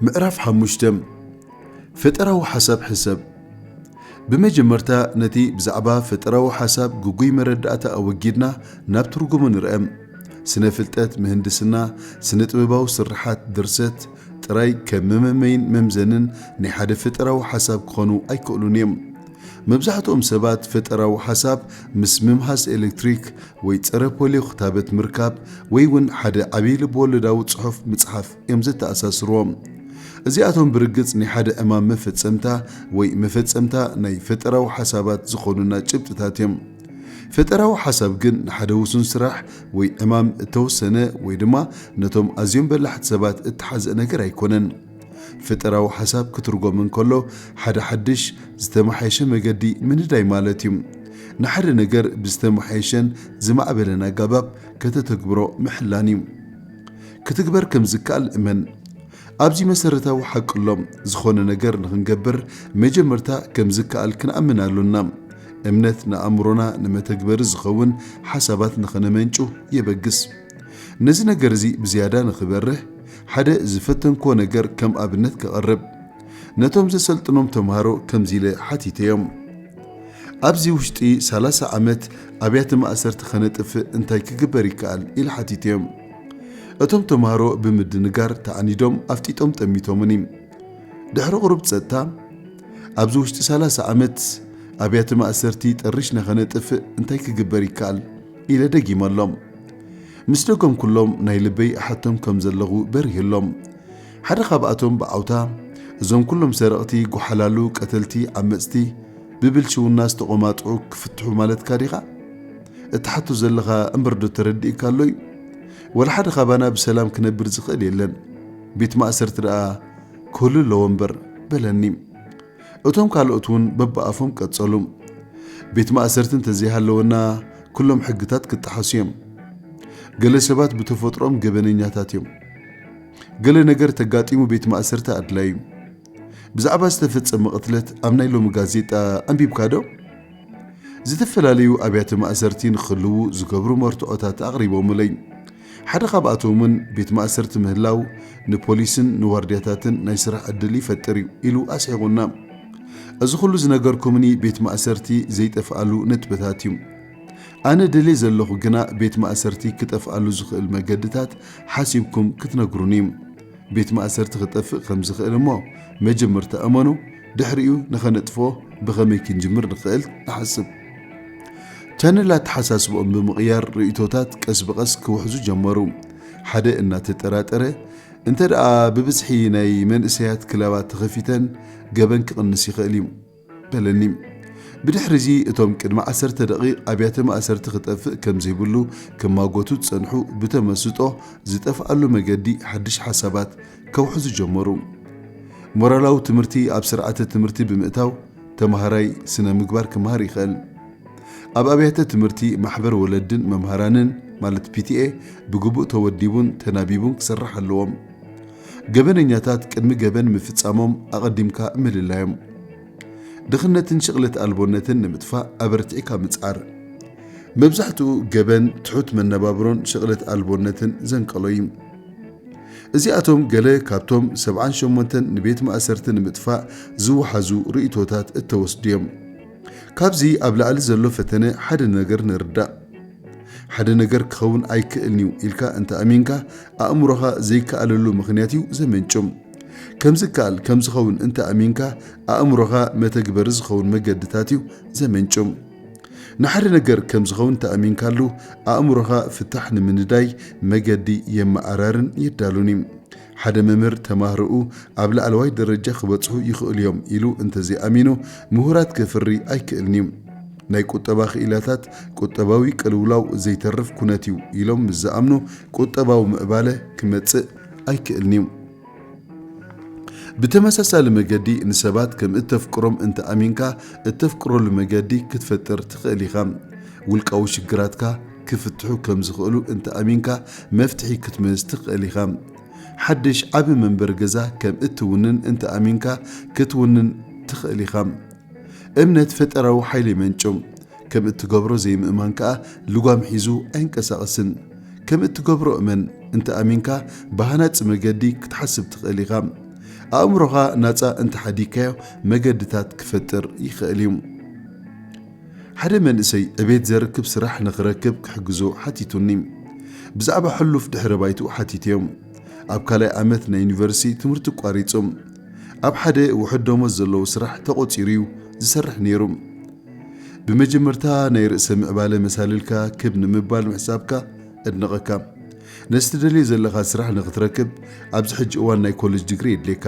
ምዕራፍ ሓሙሽተ ፈጠራዊ ሓሳብ ሕሰብ ብመጀመርታ ነቲ ብዛዕባ ፈጠራዊ ሓሳብ ግጉይ መረዳእታ ኣወጊድና ናብ ትርጉሙ ንርአ። ስነ ፍልጠት ምህንድስና ስነ ጥበባዊ ስርሓት ድርሰት ጥራይ ከም መመመይን መምዘንን ናይ ሓደ ፈጠራዊ ሓሳብ ክኾኑ ኣይክእሉን እዮም። መብዛሕትኦም ሰባት ፈጠራዊ ሓሳብ ምስ ምምሃዝ ኤሌክትሪክ ወይ ጸረ ፖልዮ ክታበት ምርካብ ወይ እውን ሓደ ዓብዪ ልብወለዳዊ ጽሑፍ ምጽሓፍ እዮም ዘተኣሳስርዎ። እዚኣቶም ብርግጽ ናይ ሓደ ዕማም መፈጸምታ ወይ መፈጸምታ ናይ ፈጠራዊ ሓሳባት ዝኾኑና ጭብጥታት እዮም። ፈጠራዊ ሓሳብ ግን ንሓደ ውሱን ስራሕ ወይ ዕማም እተወሰነ ወይ ድማ ነቶም ኣዝዮም በላሕቲ ሰባት እተሓዝእ ነገር ኣይኮነን። ፈጠራዊ ሓሳብ ክትርጎም እንከሎ ሓደ ሓድሽ፣ ዝተመሓየሸ መገዲ ምንዳይ ማለት እዩ። ንሓደ ነገር ብዝተመሓየሸን ዝማዕበለን ኣጋባብ ከተተግብሮ ምሕላን እዩ። ክትግበር ከም ዝከኣል እመን። ኣብዚ መሰረታዊ ሓቂ ኣሎ፣ ዝኾነ ነገር ንኽንገብር መጀመርታ ከም ዝከኣል ክንኣምን ኣሎና። እምነት ንኣእምሮና ንመተግበሪ ዝኸውን ሓሳባት ንኸነመንጩ የበግስ። ነዚ ነገር እዚ ብዝያዳ ንኽበርህ፣ ሓደ ዝፈተንክዎ ነገር ከም ኣብነት ከቕርብ ነቶም ዘሰልጥኖም ተምሃሮ ከምዚ ኢለ ሓቲተዮም፣ ኣብዚ ውሽጢ ሰላሳ ዓመት ኣብያተ ማእሰርቲ ከነጥፍእ እንታይ ክግበር ይከኣል? ኢለ ሓቲተዮም። እቶም ተማሃሮ ብምድንጋር ተኣኒዶም ኣፍጢጦም ጠሚቶምኒ። ድሕሪ ቁሩብ ጸጥታ፣ ኣብዚ ውሽጢ ሰላሳ ዓመት ኣብያተ ማእሰርቲ ጠሪሽና ከነጥፍእ እንታይ ክግበር ይከኣል? ኢለ ደጊመሎም። ምስ ደገምኩሎም ናይ ልበይ እሓቶም ከም ዘለኹ በሪህሎም። ሓደ ካብኣቶም ብዓውታ እዞም ኩሎም ሰረቕቲ፣ ጎሓላሉ፣ ቀተልቲ፣ ዓመጽቲ፣ ብብልሽውና ዝተቖማጥዑ ክፍትሑ ማለትካ ዲኻ? እትሓቶ ዘለኻ እምበር ዶ ተረዲእካ ኣሎ እዩ? ወላ ሓደ ካባና ብሰላም ክነብር ዝኽእል የለን፣ ቤት ማእሰርቲ ደኣ ክህሉ ኣለዎ እምበር በለኒ። እቶም ካልኦት እውን በብኣፎም ቀጸሉ። ቤት ማእሰርቲ እንተዘይሃለወና ኩሎም ሕግታት ክጠሓሱ እዮም። ገለ ሰባት ብተፈጥሮኦም ገበነኛታት እዮም። ገለ ነገር ተጋጢሙ ቤት ማእሰርቲ ኣድላዩ እዩ። ብዛዕባ ዝተፈጸመ ቅትለት ኣብ ናይ ሎሚ ጋዜጣ ኣንቢብካዶ? ዝተፈላለዩ ኣብያተ ማእሰርቲ ንክህልዉ ዝገብሩ መርትዖታት ኣቕሪቦምለይ። ሓደ ካብኣቶምውን ቤት ማእሰርቲ ምህላው ንፖሊስን ንዋርድያታትን ናይ ስራሕ ዕድል ይፈጥር እዩ ኢሉ ኣስሒቑና። እዚ ኹሉ ዝነገርኩምኒ ቤት ማእሰርቲ ዘይጠፍኣሉ ነጥብታት እዩ። ኣነ ደልየ ዘለኹ ግና ቤት ማእሰርቲ ክጠፍኣሉ ዝኽእል መገድታት ሓሲብኩም ክትነግሩኒ እዩ። ቤት ማእሰርቲ ክጠፍእ ከም ዝኽእል እሞ መጀመርታ እመኑ ድሕሪኡ ንኸነጥፍኦ ብኸመይ ክንጅምር ንኽእል ንሓስብ። ቻነል ኣተሓሳስብኦም ብምቕያር ርእይቶታት ቀስ ብቐስ ክውሕዙ ጀመሩ። ሓደ እናተጠራጠረ እንተድኣ ብብዝሒ ናይ መንእሰያት ክለባት ተኸፊተን ገበን ክቕንስ ይኽእል እዩ። በለኒ። ብድሕሪዚ እቶም ቅድሚ ዓሰርተ ደቒቕ ኣብያተ ማእሰርቲ ክጠፍእ ከም ዘይብሉ ክማጎቱ ዝጸንሑ ብተመስጦ ዝጠፍኣሉ መገዲ ሓድሽ ሓሳባት ከውሕዙ ጀመሩ። ሞራላዊ ትምህርቲ ኣብ ስርዓተ ትምህርቲ ብምእታው ተማሃራይ ስነ ምግባር ክመሃር ይኽእል። ኣብ ኣብያተ ትምህርቲ ማሕበር ወለድን መምሃራንን ማለት ፒቲኤ ብግቡእ ተወዲቡን ተናቢቡን ክሰርሕ ኣለዎም። ገበነኛታት ቅድሚ ገበን ምፍጻሞም ኣቐዲምካ ምልላዮም። ድኽነትን ሽቕለት ኣልቦነትን ንምጥፋእ ኣበርቲዕካ ምጽዓር። መብዛሕትኡ ገበን ትሑት መነባብሮን ሽቕለት ኣልቦነትን ዘንቀሎ እዩ። እዚኣቶም ገለ ካብቶም ሰብዓን ሸሞንተን ንቤት ማእሰርቲ ንምጥፋእ ዝወሓዙ ርእይቶታት እተወስዱ እዮም። ካብዚ ኣብ ላዕሊ ዘሎ ፈተነ ሓደ ነገር ንርዳእ። ሓደ ነገር ክኸውን ኣይክእልን'ዩ ኢልካ እንተ ኣሚንካ፣ ኣእምሮኻ ዘይከኣለሉ ምኽንያት'ዩ ዘመንጩ። ከም ዝከኣል ከም ዝኸውን እንተ ኣሚንካ፣ ኣእምሮኻ መተግበሪ ዝኸውን መገድታት'ዩ ዘመንጩ። ንሓደ ነገር ከም ዝኸውን እንተ ኣሚንካሉ፣ ኣእምሮኻ ፍታሕ ንምንዳይ መገዲ የመኣራርን የዳሉን'ዩ። ሓደ መምህር ተማህሮኡ ኣብ ላዕለዋይ ደረጃ ክበጽሑ ይኽእሉ እዮም ኢሉ እንተዘይኣሚኑ ምሁራት ከፍሪ ኣይክእልን እዩ። ናይ ቁጠባ ክኢላታት ቁጠባዊ ቅልውላው ዘይተርፍ ኩነት እዩ ኢሎም ምስ ዝኣምኑ ቁጠባዊ ምዕባለ ክመጽእ ኣይክእልን እዩ። ብተመሳሳሊ መገዲ ንሰባት ከም እተፍቅሮም እንተኣሚንካ እተፍቅረሉ መገዲ ክትፈጥር ትኽእል ኢኻ። ውልቃዊ ሽግራትካ ክፍትሑ ከም ዝኽእሉ እንተ ኣሚንካ መፍትሒ ክትምህዝ ትኽእል ኢኻ። ሓድሽ ዓቢ መንበሪ ገዛ ከም እትውንን እንተ ኣሚንካ ክትውንን ትኽእል ኢኻ። እምነት ፈጠራዊ ሓይሊ የመንጩ፣ ከም እትገብሮ ዘይምእማን ከኣ ልጓም ሒዙ ኣይንቀሳቐስን። ከም እትገብሮ እመን እንተ ኣሚንካ ብሃናጺ መገዲ ክትሓስብ ትኽእል ኢኻ። ኣእምሮኻ ናጻ እንተ ሓዲግካዮ መገድታት ክፈጥር ይኽእል እዩ። ሓደ መንእሰይ ዕቤት ዘርክብ ስራሕ ንኽረክብ ክሕግዞ ሓቲቱኒ። ብዛዕባ ሕሉፍ ድሕረ ባይትኡ ሓቲተዮም። ኣብ ካልኣይ ዓመት ናይ ዩኒቨርሲቲ ትምህርቱ ኣቋሪጹ። ኣብ ሓደ ውሑድ ደሞዝ ዘለዎ ስራሕ ተቖጺሩ'ዩ ዝሰርሕ ነይሩ። ብመጀመርታ ናይ ርእሰ ምዕባለ መሳልልካ ክብ ንምባል ምሕሳብካ እድንቐካ። ነዚ ትደልዮ ዘለኻ ስራሕ ንኽትረክብ ኣብዚ ሕጂ እዋን ናይ ኮለጅ ድግሪ የድልየካ።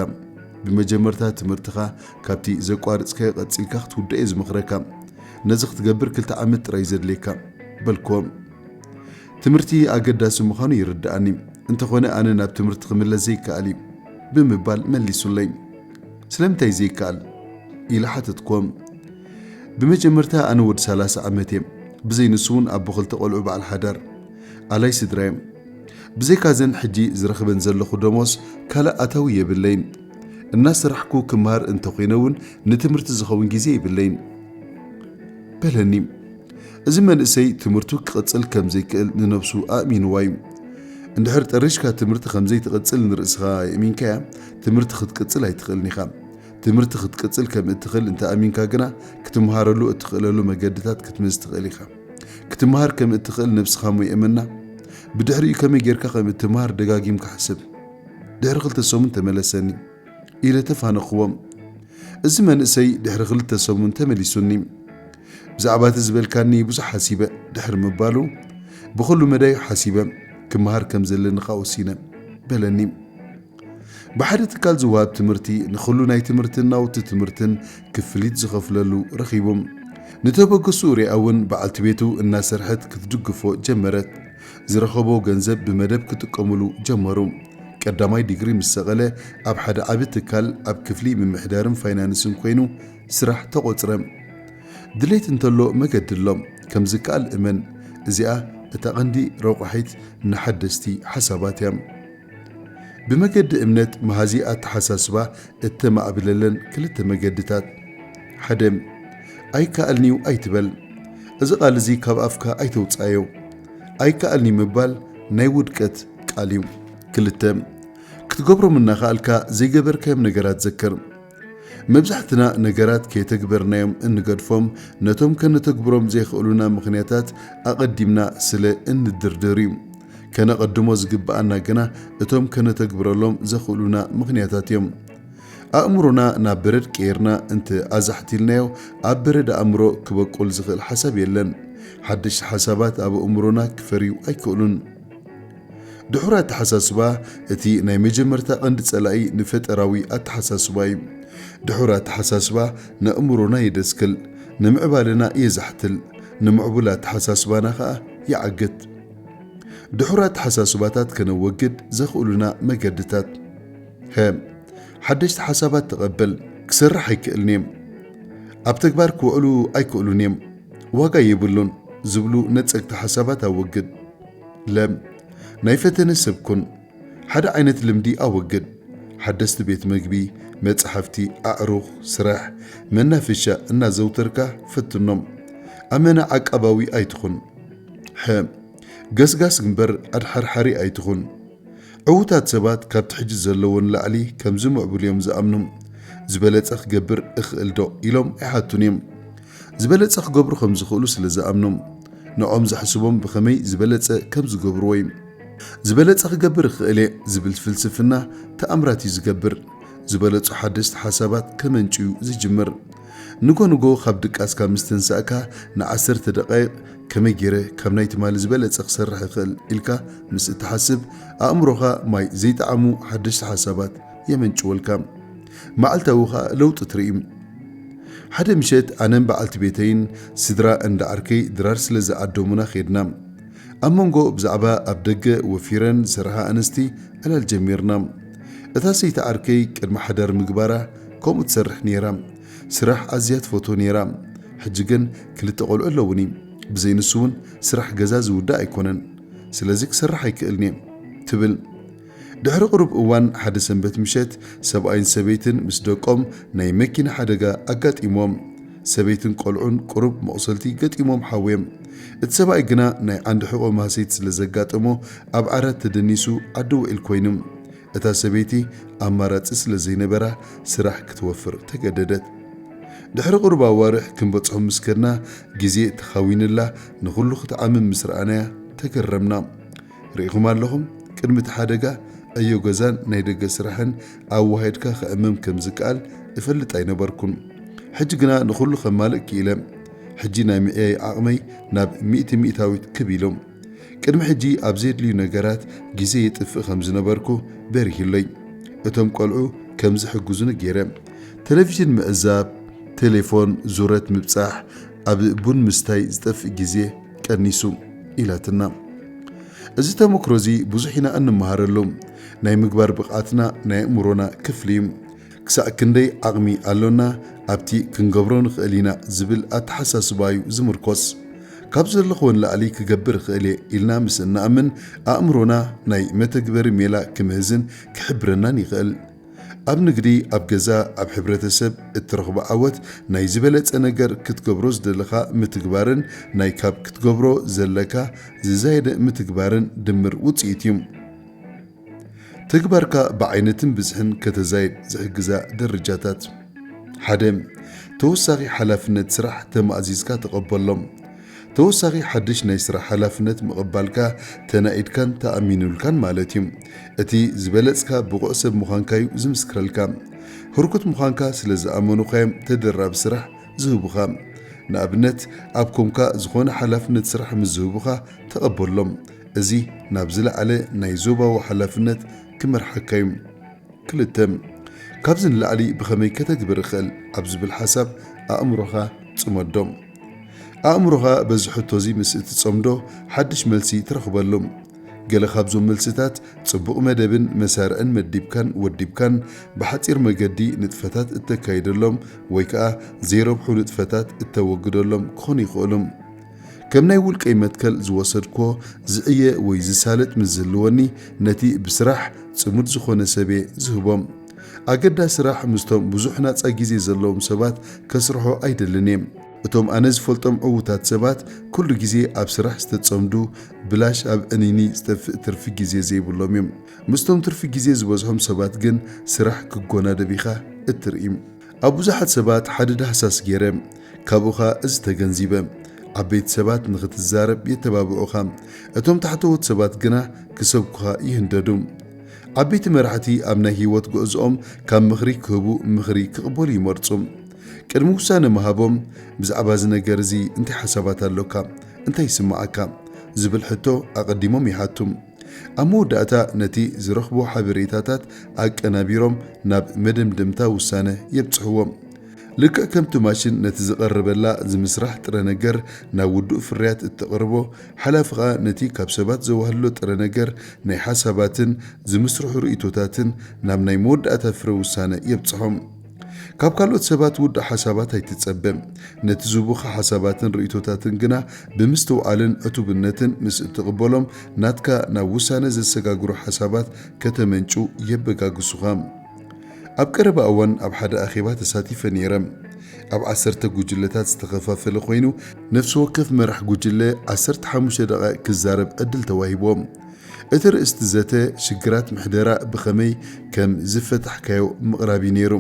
ብመጀመርታ ትምህርትኻ ካብቲ ዘቋርጽካዮ ቀጺልካ ክትውድኦ'የ ዝመኽረካ። ነዚ ክትገብር ክልተ ዓመት ጥራይ'ዩ ዘድልየካ። በልክዎም። ትምህርቲ ኣገዳሲ ምዃኑ ይርድኣኒ፣ እንተኾነ ኣነ ናብ ትምህርቲ ክምለስ ዘይከኣል'ዩ። ብምባል መሊሱለይ። ስለምንታይ ዘይከኣል? ኢለ ሓተትክዎም። ብመጀመርታ ኣነ ወዲ ሰላሳ ዓመት'የ፣ ብዘይ ንሱ'ውን ኣቦ ክልተ ቆልዑ በዓል ሓዳር። ኣላይ ስድራ'የ። ብዘይካ'ዘን ሕጂ ዝረኽበን ዘለኹ ደሞዝ ካልእ ኣታዊ የብለይን። እናሰራሕኩ ክመሃር እንተኾይነ እውን ንትምህርቲ ዝኸውን ግዜ የብለይን በለኒ። እዚ መንእሰይ ትምህርቱ ክቕጽል ከም ዘይክእል ንነብሱ ኣእሚንዋ እዩ። እንድሕር ጠሪሽካ ትምህርቲ ከም ዘይትቕጽል ንርእስኻ የእሚንካያ ትምህርቲ ክትቅጽል ኣይትኽእልን ኢኻ። ትምህርቲ ክትቅጽል ከም እትኽእል እንተ ኣሚንካ ግና ክትመሃረሉ እትኽእለሉ መገድታት ክትምዝ ትኽእል ኢኻ። ክትመሃር ከም እትኽእል ነብስኻ እሞ የእመና። ብድሕሪኡ ከመይ ጌርካ ከም እትመሃር ደጋጊምካ ሕሰብ። ድሕሪ ክልተ ሰሙን ተመለሰኒ ኢለ ተፋነኽዎ። እዚ መንእሰይ ድሕሪ ክልተ ሰሙን ተመሊሱኒ። ብዛዕባ እቲ ዝበልካኒ ብዙሕ ሓሲበ ድሕሪ ምባሉ፣ ብኹሉ መዳዩ ሓሲበ ክመሃር ከም ዘለኒ ከኣ ወሲነ። በለኒ። ብሓደ ትካል ዝወሃብ ትምህርቲ ንኹሉ ናይ ትምህርትን ናውቲ ትምህርትን ክፍሊት ዝኸፍለሉ ረኺቡ። ንተበግሶኡ ሪኣ እውን በዓልቲ ቤቱ እናሰርሐት ክትድግፎ ጀመረት። ዝረኸቦ ገንዘብ ብመደብ ክጥቀሙሉ ጀመሩ። ቀዳማይ ዲግሪ ምስ ሰቐለ ኣብ ሓደ ዓቢ ትካል ኣብ ክፍሊ ምምሕዳርን ፋይናንስን ኮይኑ ስራሕ ተቖጽረ። ድሌት እንተሎ መገዲ ኣሎ፣ ከም ዝከኣል እመን፣ እዚኣ እታ ቀንዲ ረቋሒት ንሓደስቲ ሓሳባት እያ። ብመገዲ እምነት መሃዚ ኣተሓሳስባ እተማእብለለን ክልተ መገድታት፣ ሓደ፣ ኣይከኣልን'ዩ ኣይትበል። እዚ ቓል እዚ ካብ ኣፍካ ኣይተውጽኣዮ። ኣይከኣልን'ዩ ምባል ናይ ውድቀት ቃል'ዩ። ክልተ፣ ክትገብሮም እናኸኣልካ ዘይገበርካዮም ነገራት ዘክር። መብዛሕትና ነገራት ከየተግበርናዮም እንገድፎም ነቶም ከነተግብሮም ዘይክእሉና ምኽንያታት ኣቐዲምና ስለ እንድርድር'ዩ። ከነቐድሞ ዝግብኣና ግና እቶም ከነተግብረሎም ዘኽእሉና ምኽንያታት እዮም። ኣእምሮና ናብ በረድ ቀይርና እንተ ኣዛሕቲልናዮ ኣብ በረድ ኣእምሮ ክበቁል ዝኽእል ሓሳብ የለን። ሓደሽቲ ሓሳባት ኣብ ኣእምሮና ክፈርዩ ኣይክእሉን። ድሑር ኣተሓሳስባ እቲ ናይ መጀመርታ ቀንዲ ጸላኢ ንፈጠራዊ ኣተሓሳስባ እዩ። ድሑር ኣተሓሳስባ ነእምሮና የደስክል፣ ንምዕባለና የዛሕትል፣ ንምዕቡል ኣተሓሳስባና ከኣ ይዓግት። ድሑር ኣተሓሳስባታት ከነወግድ ዘኽእሉና መገድታት ሀ ሓደሽቲ ሓሳባት ተቐበል ክሰርሕ ኣይክእልን እየ ኣብ ተግባር ክውዕሉ ኣይክእሉን እዮም ዋጋ የብሉን ዝብሉ ነጸግቲ ሓሳባት ኣወግድ ለ ናይ ፈተነ ሰብ ኩን ሓደ ዓይነት ልምዲ ኣወግድ። ሓደስቲ ቤት መግቢ፣ መጻሕፍቲ፣ ኣዕሩኽ፣ ስራሕ፣ መናፈሻ እናዘውተርካ ፈትኖም። ኣመና ዓቃባዊ ኣይትኹን። ሐ። ገስጋስ እምበር ኣድሓርሓሪ ኣይትኹን። ዕዉታት ሰባት ካብቲ ሕጂ ዘለዎ ንላዕሊ ከም ዝምዕብሉ እዮም ዝኣምኑ። ዝበለጸ ክገብር እኽእልዶ? ኢሎም ኣይሓቱን እዮም። ዝበለጸ ክገብሩ ከም ዝኽእሉ ስለ ዝኣምኖም፣ ንዕኦም ዘሕስቦም ብኸመይ ዝበለጸ ከም ዝገብርዎ'ዩ። ዝበለጸ ክገብር እኽእል'የ ዝብል ፍልስፍና ተኣምራት'ዩ ዝገብር። ዝበለጹ ሓደስቲ ሓሳባት ከመንጭ'ዩ ዝጅምር። ንጎ ንጎ ካብ ድቃስካ ምስ ተንሳእካ ንዓሰርተ ደቓይቕ ከመይ ገይረ ካብ ናይ ትማሊ ዝበለጸ ክሰርሕ እኽእል ኢልካ ምስ እትሓስብ፣ ኣእምሮኻ ማይ ዘይጠዓሙ ሓደሽቲ ሓሳባት የመንጭወልካ። መዓልታዊ ከኣ ለውጢ ትርኢ። ሓደ ምሸት ኣነን በዓልቲ ቤተይን ስድራ እንዳ ዓርከይ ድራር ስለ ዝዓደሙና ኬድና። ኣብ መንጎ ብዛዕባ ኣብ ደገ ወፊረን ዝሰርሓ ኣንስቲ ዕላል ጀሚርና። እታ ሰይቲ ዓርከይ ቅድሚ ሓዳር ምግባራ ከምኡ ትሰርሕ ነይራ። ስራሕ ኣዝያ ትፈትዎ ነይራ። ሕጂ ግን ክልተ ቆልዑ ኣለዉኒ። ብዘይ ንሱ'ውን ስራሕ ገዛ ዝውዳእ ኣይኮነን። ስለዚ ክሰርሕ ኣይክእልን'የ። ትብል። ድሕሪ ቁሩብ እዋን ሓደ ሰንበት ምሸት ሰብኣይን ሰበይትን ምስ ደቆም ናይ መኪና ሓደጋ ኣጋጢምዎም ሰበይትን ቆልዑን ቁሩብ መቑሰልቲ ገጢምዎም ሓውዮም። እቲ ሰብኣይ ግና ናይ ዓንዲ ሕቖ ማህሰይቲ ስለ ዘጋጠሞ ኣብ ዓራት ተደኒሱ ዓዲ ውዒል ኮይኑ። እታ ሰበይቲ ኣማራጺ ስለ ዘይነበራ ስራሕ ክትወፍር ተገደደት። ድሕሪ ቁሩብ ኣዋርሕ ክንበጽሖም ምስ ከድና ግዜ ተኻዊንላ ንኹሉ ክትዓምም ምስ ረኣናያ ተገረምና። ርኢኹም ኣለኹም፣ ቅድሚ እቲ ሓደጋ ዕዮ ገዛን ናይ ደገ ስራሕን ኣወሃሂድካ ከእምም ከም ዝከኣል እፈልጥ ኣይነበርኩን። ሕጂ ግና ንኹሉ ከማልእ ክኢለ። ሕጂ ናይ ምዕያይ ዓቕመይ ናብ ሚእቲ ሚእታዊት ክብ ኢሉ። ቅድሚ ሕጂ ኣብ ዜድልዩ ነገራት ግዜ የጥፍእ ከም ዝነበርኩ በሪሁለይ። እቶም ቈልዑ ከም ዝሕግዙኒ ገይረ። ተለቪዥን ምዕዛብ፣ ቴሌፎን፣ ዙረት ምብጻሕ፣ ኣብ ቡን ምስታይ ዝጠፍእ ግዜ፣ ቀኒሱ ኢላትና። እዚ ተመክሮ እዚ ብዙሕ ኢና እንመሃረሉ። ናይ ምግባር ብቕዓትና ናይ ኣእምሮና ክፍሊ እዩ። ክሳዕ ክንደይ ዓቕሚ ኣሎና ኣብቲ ክንገብሮ ንኽእል ኢና ዝብል ኣተሓሳስባ እዩ ዝምርኮስ። ካብ ዘለኽዎ ንላዕሊ ክገብር እኽእል እየ ኢልና ምስ እንኣምን ኣእምሮና ናይ መተግበሪ ሜላ ክምህዝን ክሕብረናን ይኽእል። ኣብ ንግዲ፣ ኣብ ገዛ፣ ኣብ ሕብረተሰብ እትረኽቦ ዓወት ናይ ዝበለጸ ነገር ክትገብሮ ዝደለኻ ምትግባርን ናይ ካብ ክትገብሮ ዘለካ ዝዛየደ ምትግባርን ድምር ውጽኢት እዩ። ተግባርካ ብዓይነትን ብዝሕን ከተዛይድ ዝሕግዛ ደረጃታት፣ ሓደ። ተወሳኺ ሓላፍነት ስራሕ ተማእዚዝካ ተቐበሎ። ተወሳኺ ሓድሽ ናይ ስራሕ ሓላፍነት ምቕባልካ ተናኢድካን ተኣሚኑልካን ማለት እዩ። እቲ ዝበለጽካ ብቑዕ ሰብ ምዃንካ እዩ ዝምስክረልካ። ህርኩት ምዃንካ ስለ ዝኣመኑኻ እዮም ተደራቢ ስራሕ ዝህቡኻ። ንኣብነት ኣብ ኮምካ ዝኾነ ሓላፍነት ስራሕ ምስ ዝህቡኻ ተቐበሎም። እዚ ናብ ዝለዓለ ናይ ዞባዊ ሓላፍነት ክመርሓካ እዩ። ክልተ። ካብዚ ንላዕሊ ብኸመይ ከተግብር እኽእል ኣብ ዝብል ሓሳብ ኣእምሮኻ ጽመዶ። ኣእምሮኻ በዚ ሕቶዚ ምስ እትጸምዶ ሓድሽ መልሲ ትረኽበሉ። ገለ ካብዞም መልሲታት ጽቡቕ መደብን መሳርዕን መዲብካን ወዲብካን ብሓጺር መገዲ ንጥፈታት እተካይደሎም ወይ ከኣ ዘይረብሑ ንጥፈታት እተወግደሎም ክኾኑ ይኽእሉ። ከም ናይ ውልቀይ መትከል ዝወሰድክዎ ዝዕየ ወይ ዝሳለጥ ምስ ዝህልወኒ ነቲ ብስራሕ ጽሙድ ዝኾነ ሰብየ ዝህቦ። ኣገዳሲ ስራሕ ምስቶም ብዙሕ ናጻ ግዜ ዘለዎም ሰባት ከስርሖ ኣይደልን እየ። እቶም ኣነ ዝፈልጦም ዕዉታት ሰባት ኩሉ ግዜ ኣብ ስራሕ ዝተጸምዱ፣ ብላሽ ኣብ ዕንይንይ ዝጠፍእ ትርፊ ግዜ ዘይብሎም እዮም። ምስቶም ትርፊ ግዜ ዝበዝሖም ሰባት ግን ስራሕ ክጎናደብ ኢኻ እትርኢ። ኣብ ብዙሓት ሰባት ሓደ ዳህሳስ ገይረ፣ ካብኡ ኸኣ እዚ ተገንዚበ፣ ዓበይቲ ሰባት ንኽትዛረብ የተባብዑኻ፣ እቶም ታሕተዎት ሰባት ግና ክሰብኩኻ ይህንደዱ። ዓበይቲ መራሕቲ ኣብ ናይ ህይወት ጕዕዞኦም ካብ ምኽሪ ክህቡ ምኽሪ ክቕበሉ ይመርጹ። ቅድሚ ውሳነ ምሃቦም፣ ብዛዕባ እዚ ነገር እዚ እንታይ ሓሳባት ኣሎካ? እንታይ ይስምዓካ? ዝብል ሕቶ ኣቐዲሞም ይሓቱ። ኣብ መወዳእታ ነቲ ዝረኽቦ ሓበሬታታት ኣቀናቢሮም ናብ መደምደምታ ውሳነ የብጽሕዎም። ልክዕ ከምቲ ማሽን ነቲ ዝቐረበላ ዝምስራሕ ጥረ ነገር ናብ ውዱእ ፍርያት እተቕርቦ፣ ሓላፊ ኸኣ ነቲ ካብ ሰባት ዘዋህልሎ ጥረ ነገር ናይ ሓሳባትን ዝምስርሑ ርእይቶታትን ናብ ናይ መወዳእታ ፍረ ውሳነ የብጽሖም። ካብ ካልኦት ሰባት ውዱእ ሓሳባት ኣይትጸበ። ነቲ ዝህቡኻ ሓሳባትን ርእይቶታትን ግና ብምስትውዓልን ዕቱብነትን ምስ እትቕበሎም፣ ናትካ ናብ ውሳነ ዘሰጋግሩ ሓሳባት ከተመንጩ የበጋግሱኻ። ኣብ ቀረባ እዋን ኣብ ሓደ ኣኼባ ተሳቲፈ ነይረ። ኣብ ዓሰርተ ጉጅለታት ዝተኸፋፈለ ኰይኑ፣ ነፍሲ ወከፍ መራሕ ጉጅለ ዓሰርተ ሓሙሽተ ደቓይቕ ክዛረብ ዕድል ተዋሂቡዎ። እቲ ርእስቲ ዘተ ሽግራት ምሕደራ ብኸመይ ከም ዝፈታሕካዮ ምቕራብ እዩ ነይሩ።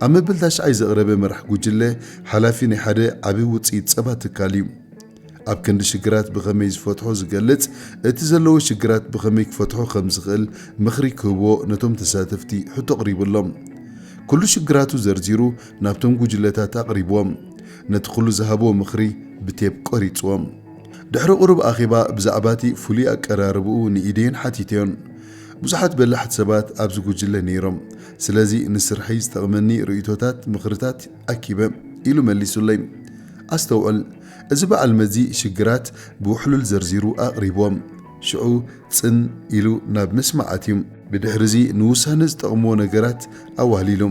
ኣብ መበል ታሽዓይ ዘቕረበ መራሕ ጉጅለ ሓላፊ ናይ ሓደ ዓቢ ውጽኢት ጸባ ትካል እዩ። ኣብ ክንዲ ሽግራት ብኸመይ ዝፈትሖ ዝገልጽ እቲ ዘለዎ ሽግራት ብኸመይ ክፈትሖ ከም ዝኽእል ምኽሪ ክህቦ ነቶም ተሳተፍቲ ሕቶ ኣቕሪቡሎም። ኩሉ ሽግራቱ ዘርዚሩ ናብቶም ጉጅለታት ኣቕሪብዎም ነቲ ኩሉ ዝሃብዎ ምኽሪ ብቴፕ ቀሪጽዎም። ድሕሪ ቁሩብ ኣኼባ ብዛዕባ'ቲ ፍሉይ ኣቀራርባኡ ንኢደየን ሓቲተዮን። ብዙሓት በላሕቲ ሰባት ኣብዚ ጉጅለ ነይሮም፣ ስለዚ ንስርሐይ ዝጠቕመኒ ርእይቶታትን ምኽርታትን ኣኪበ፣ ኢሉ መሊሱለይ። ኣስተውዕል፣ እዚ በዓል መዚ ሽግራት ብውሕሉል ዘርዚሩ ኣቕሪቡዎም፣ ሽዑ ጽን ኢሉ ናብ ምስማዕ ኣትዩ። ብድሕሪ'ዚ ንውሳነ ዝጠቕሙዎ ነገራት ኣዋህሊሉ።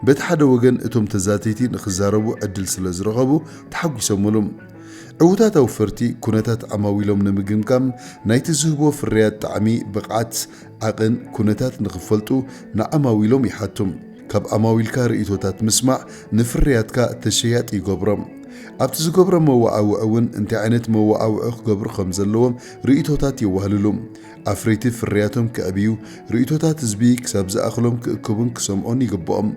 በቲ ሓደ ወገን እቶም ተዛተይቲ ንኽዛረቡ ዕድል ስለ ዝረኸቡ ተሓጒሶምሉ። ዕውታት ኣውፈርቲ ኩነታት ኣማዊሎም ንምግምጋም ናይቲ ዝህቦ ፍርያት ጣዕሚ፣ ብቕዓት፣ ዓቕን፣ ኩነታት ንኽፈልጡ ንዓማዊሎም ይሓቱ። ካብ ኣማዊልካ ርእይቶታት ምስማዕ ንፍርያትካ ተሸያጢ ይገብሮ። ኣብቲ ዝገብሮ መወዓውዒ እውን እንታይ ዓይነት መወዓውዒ ክገብሩ ከም ዘለዎም ርእይቶታት የዋህልሉ። ኣፍረይቲ ፍርያቶም ከዕብዩ፣ ርእይቶታት ህዝቢ ክሳብ ዝኣኽሎም ክእክቡን ክሰምዑን ይግብኦም።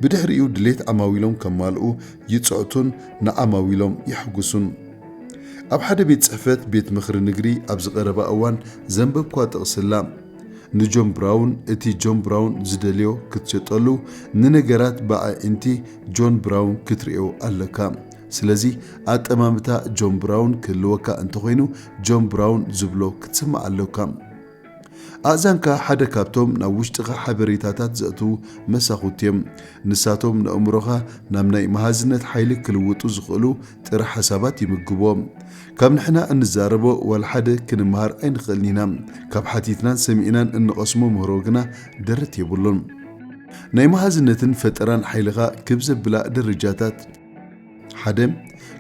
ብድሕሪኡ ድሌት ዓማዊሎም ከማልኡ ይጽዕቱን ንዓማዊሎም የሕጉሱን። ኣብ ሓደ ቤት ጽሕፈት ቤት ምኽሪ ንግሪ ኣብዚ ቀረባ እዋን ዘንበብኩዋ ጥቕሲ ኣላ። ንጆን ብራውን እቲ ጆን ብራውን ዝደልዮ ክትሸጠሉ ንነገራት ብኣዒንቲ ጆን ብራውን ክትርእዮ ኣለካ። ስለዚ ኣጠማምታ ጆን ብራውን ክህልወካ እንተኾይኑ ጆን ብራውን ዝብሎ ክትስማዕ ኣሎካ። ኣእዛንካ ሓደ ካብቶም ናብ ውሽጥኻ ሓበሬታታት ዘእትዉ መሳኹቲ እዮም። ንሳቶም ነእምሮኻ ናብ ናይ መሃዝነት ሓይሊ ክልውጡ ዝኽእሉ ጥረ ሓሳባት ይምግብዎ። ካብ ንሕና እንዛረቦ ዋላ ሓደ ክንመሃር ኣይንኽእልን ኢና፣ ካብ ሓቲትናን ሰሚዕናን እንቐስሞ ምህሮ ግና ደረት የብሉን። ናይ መሃዝነትን ፈጠራን ሓይልኻ ክብ ዘብላ ደረጃታት። ሓደ፣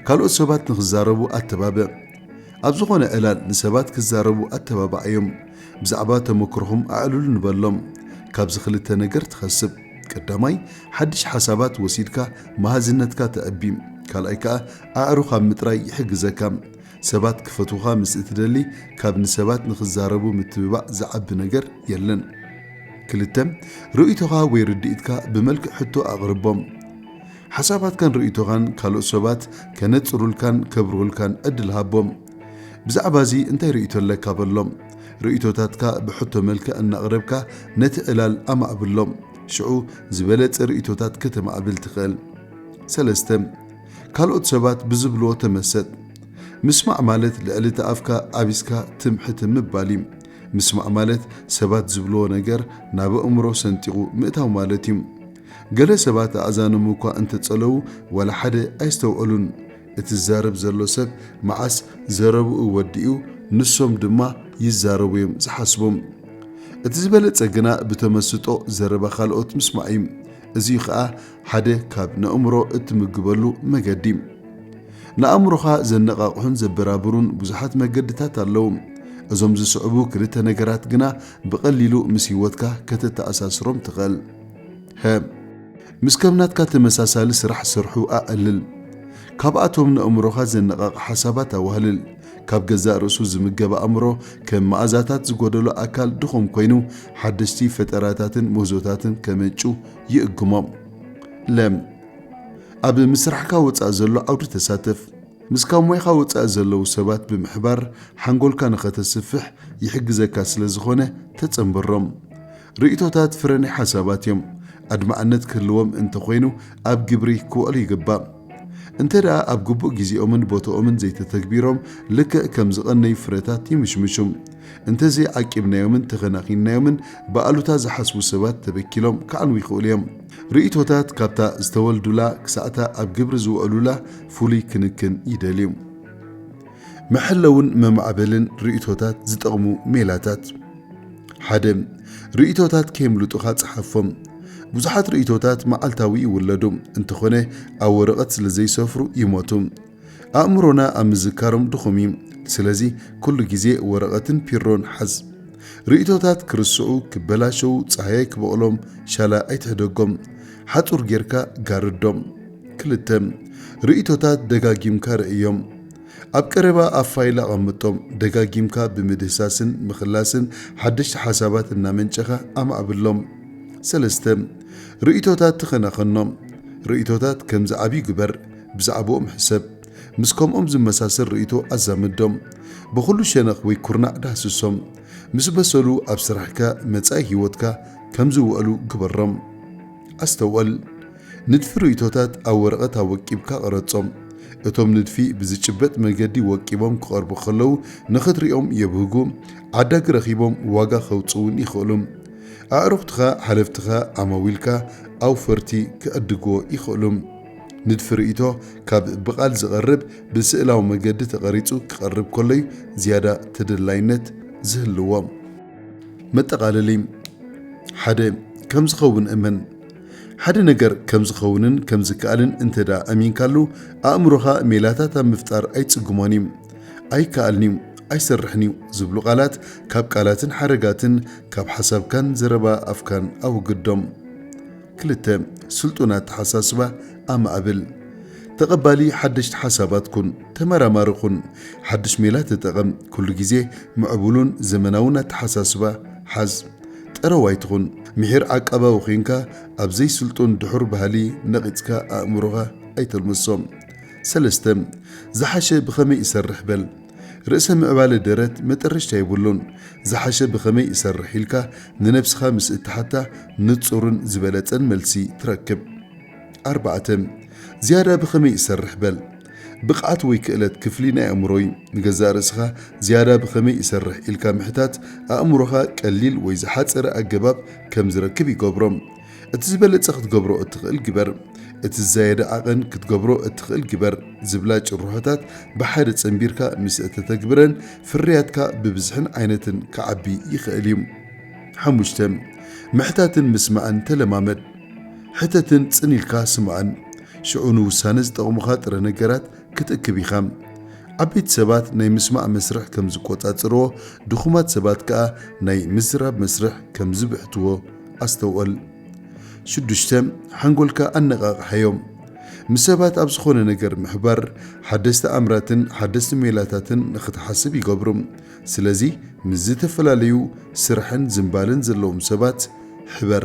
ካልኦት ሰባት ንኽዛረቡ ኣተባብዕ። ኣብ ዝኾነ ዕላል ንሰባት ክዛረቡ ኣተባብዓዮም። ብዛዕባ ተመክሮኹም ኣዕልሉ ንበሎም። ካብዚ ክልተ ነገር ትኸስብ። ቀዳማይ፣ ሓድሽ ሓሳባት ወሲድካ መሃዝነትካ ተዕቢ። ካልኣይ ከኣ ኣዕሩኽ ኣብ ምጥራይ ይሕግዘካ። ሰባት ክፈትዉኻ ምስ እትደሊ ካብ ንሰባት ንኽዛረቡ ምትብባዕ ዝዓቢ ነገር የለን። ክልተ፣ ርእይቶኻ ወይ ርድኢትካ ብመልክዕ ሕቶ ኣቕርቦም። ሓሳባትካን ርእይቶኻን ካልኦት ሰባት ከነጽሩልካን ከብርሁልካን ዕድል ሃቦም። ብዛዕባ እዚ እንታይ ርእይቶ ኣለካ በሎም። ርእይቶታትካ ብሕቶ መልክዕ እናቕረብካ ነቲ ዕላል ኣማዕብሎ። ሽዑ ዝበለጸ ርእይቶታት ከተማዕብል ትኽእል። ሰለስተ፣ ካልኦት ሰባት ብዝብልዎ ተመሰጥ። ምስማዕ ማለት ልዕሊ እቲ ኣፍካ ዓቢስካ ትም ሕትም ምባል እዩ። ምስማዕ ማለት ሰባት ዝብልዎ ነገር ናብ ኣእምሮ ሰንጢቑ ምእታው ማለት እዩ። ገለ ሰባት ኣእዛኖም እኳ እንተ ጸለዉ ዋላ ሓደ ኣይስተውዕሉን። እቲ ዝዛረብ ዘሎ ሰብ መዓስ ዘረብኡ ወዲኡ ንሶም ድማ ይዛረቡ እዮም ዝሓስቡ። እቲ ዝበለጸ ግና ብተመስጦ ዘረባ ካልኦት ምስማዕ እዩ። እዚ'ዩ ከኣ ሓደ ካብ ነእምሮ እትምግበሉ መገዲ። ንኣእምሮኻ ዘነቓቕሑን ዘበራብሩን ብዙሓት መገድታት ኣለዉ። እዞም ዝስዕቡ ክልተ ነገራት ግና ብቐሊሉ ምስ ህይወትካ ከተተኣሳስሮም ትኽእል። ህም ምስ ከም ናትካ ተመሳሳሊ ስራሕ ዝሰርሑ ኣቐልል። ካብኣቶም ነእምሮኻ ዘነቓቕሕ ሓሳባት ኣዋህልል። ካብ ገዛእ ርእሱ ዝምገብ ኣእምሮ ከም መኣዛታት ዝጎደሎ ኣካል ድኹም ኮይኑ ሓደሽቲ ፈጠራታትን ምህዞታትን ከመንጩ ይእግሞም። ለም ኣብ ምስራሕካ ወጻኢ ዘሎ ዓውዲ ተሳተፍ። ምስ ካብ ሞያኻ ወጻኢ ዘለዉ ሰባት ብምሕባር ሓንጎልካ ንኸተስፍሕ ይሕግዘካ ስለዝኾነ ተጸንበሮም። ርእይቶታት ፍረ ናይ ሓሳባት እዮም። ኣድማዕነት ክህልዎም እንተ ኾይኑ ኣብ ግብሪ ክውዕሉ ይግባእ። እንተ ደኣ ኣብ ግቡእ ጊዜኦምን ቦትኦምን ዘይተተግቢሮም ልክዕ ከም ዝቐነዩ ፍረታት ይምሽምሹ። እንተ ዘይዓቂብናዮምን ተኸናኺንናዮምን ብኣሉታ ዝሓስቡ ሰባት ተበኪሎም ክዓንዉ ይኽእሉ እዮም። ርእይቶታት ካብታ ዝተወልዱላ ክሳዕ'ታ ኣብ ግብሪ ዝውዕሉላ ፍሉይ ክንክን ይደልዩ። መሐለውን መማዕበልን ርእይቶታት ዝጠቕሙ ሜላታት ሓደ። ርእይቶታት ከየምልጡኻ ጽሓፎም። ብዙሓት ርእይቶታት መዓልታዊ ይውለዱ፣ እንተኾነ ኣብ ወረቐት ስለ ዘይሰፍሩ ይሞቱ። ኣእምሮና ኣብ ምዝካሮም ድኹም እዩ፣ ስለዚ ኩሉ ግዜ ወረቐትን ፒሮን ሓዝ። ርእይቶታት ክርስዑ፣ ክበላሸዉ፣ ጻህያይ ክበቕሎም ሻላ ኣይትሕደጎም፣ ሓጹር ጌርካ ጋርዶም። ክልተ ርእይቶታት ደጋጊምካ ርእዮም። ኣብ ቀረባ ኣብ ፋይል ኣቐምጦም። ደጋጊምካ ብምድህሳስን ምኽላስን ሓደሽቲ ሓሳባት እናመንጨኻ ኣማዕብሎም። ሰለስተ ርእይቶታት ተኸናኸኖም። ርእይቶታት ከም ዝዓብዩ ግበር። ብዛዕብኦም ሕሰብ። ምስ ከምኦም ዝመሳሰል ርእይቶ ኣዛምዶም። ብኹሉ ሸነኽ ወይ ኩርናዕ ዳህስሶም። ምስ በሰሉ ኣብ ስራሕካ፣ መጻኢ ህይወትካ፣ ከም ዝውዕሉ ግበሮም። ኣስተውዕል። ንድፊ ርእይቶታት ኣብ ወረቐት ኣወቂብካ ቅረጾም። እቶም ንድፊ ብዝጭበጥ መገዲ ወቂቦም ክቐርቡ ከለዉ ንኽትሪኦም የብህጉ፣ ዓዳጊ ረኺቦም ዋጋ ከውጽኡ እውን ይኽእሉ። ኣዕሩኽትኻ፣ ሓለፍትኻ፣ ዓማዊልካ፣ ኣውፈርቲ፣ ክዕድግዎ ይኽእሉ። ንድፊ ርእይቶ ካብ ብቓል ዝቐርብ ብስእላዊ መገዲ ተቐሪጹ ክቐርብ ከሎ እዩ ዝያዳ ተደላይነት ዝህልዎ። መጠቓለሊ ሓደ ከም ዝኸውን እመን። ሓደ ነገር ከም ዝኸውንን ከም ዝከኣልን እንተ ደኣ ኣሚንካሉ፣ ኣእምሮኻ ሜላታት ኣብ ምፍጣር ኣይጽግሞን እዩ። ኣይከኣልን እዩ፣ ኣይሰርሕን እዩ ዝብሉ ቃላት ካብ ቃላትን ሓረጋትን ካብ ሓሳብካን ዘረባ ኣፍካን ኣወግዶም። ክልተ፣ ስልጡን ኣተሓሳስባ ኣማዕብል። ተቐባሊ ሓደሽቲ ሓሳባት ኩን። ተመራማሪ ኩን። ሓድሽ ሜላ ተጠቐም። ኩሉ ግዜ ምዕቡሉን ዘመናውን ኣተሓሳስባ ሓዝ። ጠረው ኣይትኹን ምሒር ዓቃባዊ ዄንካ ኣብ ዘይስልጡን ድሑር ባህሊ ነቒጽካ ኣእምሮኻ ኣይተልምሶ። ሰለስተ፣ ዝሓሸ ብኸመይ እሰርሕ በል። ርእሰ ምዕባለ ደረት መጠረሽታ የብሉን። ዝሓሸ ብኸመይ እሰርሕ ኢልካ ንነብስኻ ምስ እትሓታ ንጹርን ዝበለጸን መልሲ ትረክብ። ኣርባዕተ፣ ዝያዳ ብኸመይ እሰርሕ በል። ብቕዓት ወይ ክእለት ክፍሊ ናይ ኣእምሮ'ዩ። ንገዛእ ርእስኻ ዝያዳ ብኸመይ እሰርሕ ኢልካ ምሕታት፣ ኣእምሮኻ ቀሊል ወይ ዝሓጸረ ኣገባብ ከም ዝረክብ ይገብሮ። እቲ ዝበለጸ ክትገብሮ እትኽእል ግበር፣ እቲ ዝዛየደ ዓቐን ክትገብሮ እትኽእል ግበር ዝብላ ጭርሖታት ብሓደ ጸንቢርካ ምስ እተተግብረን፣ ፍርያትካ ብብዝሕን ዓይነትን ክዓቢ ይኽእል እዩ። ሓሙሽተ፣ ምሕታትን ምስማዕን ተለማመድ። ሕተትን ጽን ኢልካ ስምዓን። ሽዑ ንውሳነ ዝጠቕሙኻ ጥረ ነገራት ክትእክብ ኢኻ። ዓበይቲ ሰባት ናይ ምስማዕ መስርሕ ከም ዝቈጻጸርዎ፣ ድኹማት ሰባት ከኣ ናይ ምዝራብ መስርሕ ከም ዝብሕትዎ ኣስተውዕል። ሽዱሽተ፣ ሓንጎልካ ኣነቓቕሓዮ። ምስ ሰባት ኣብ ዝዀነ ነገር ምሕባር፣ ሓደስቲ ኣምራትን ሓደስቲ ሜላታትን ንኽትሓስብ ይገብሩ። ስለዚ፣ ምስ ዝተፈላለዩ ስራሕን ዝንባለን ዘለዎም ሰባት ሕበር።